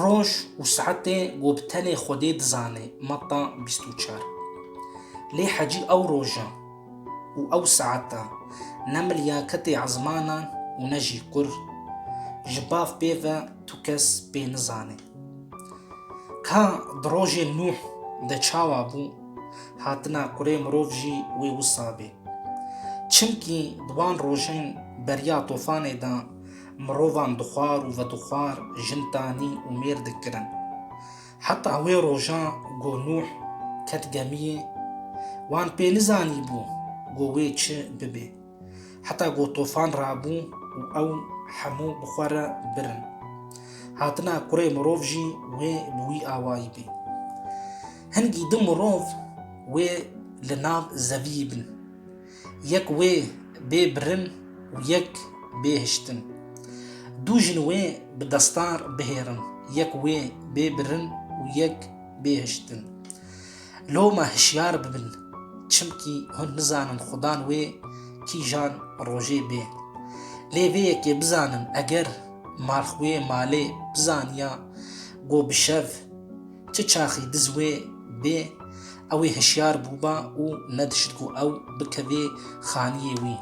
Roj û saetê ku bi tenê Xwedê dizanê, Mata bîst û çar. Lê hecî ew roja û ew saeta ne milyaketê ezmanan û ne jî kur, ji bav pê ve tu kes pê nizanê. Ka di rojê Nûh de çawa bû, hatina kurê mirov jî wê wisa bê. Çimkî di wan rojên beriya tofanê de mirovan dixwar û vedixwar jin tanî û mêr dikirin. Heta wê roja ku Nûh ket gemiyê, wan pê nizanîbû ku wê çi bibê. Heta ku tofan rabû û ew hemû bi xwe re birin. Hatina kurê mirov jî wê bi wî awayî bê. Hin gîdin mirov wê li nav zeviyî bin. Yek wê bê birin û yek bê hiştin. Du jin wê bi destar bihêrin, yek wê bê birin û yek bê hiştin. Loma hişyar bibin, çimkî hûn nizanin xudan wê kîjan rojê bê. Lê vê yekê bizanin eger marx wê malê bizaniya ku bi şev çi çaxî diz wê bê ewê hişyar bûba û nedişt ku ew bikevê xaniyê wî.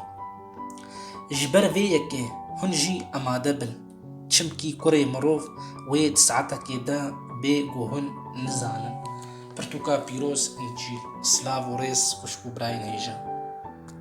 Ji ber vê yekê hûn jî amade bin. Çimkî kurê mirov wê di saetekê de bê ku hûn nizanin. Pirtûka pîroz încîl. Silav û rêz xwişk û birayên hêja.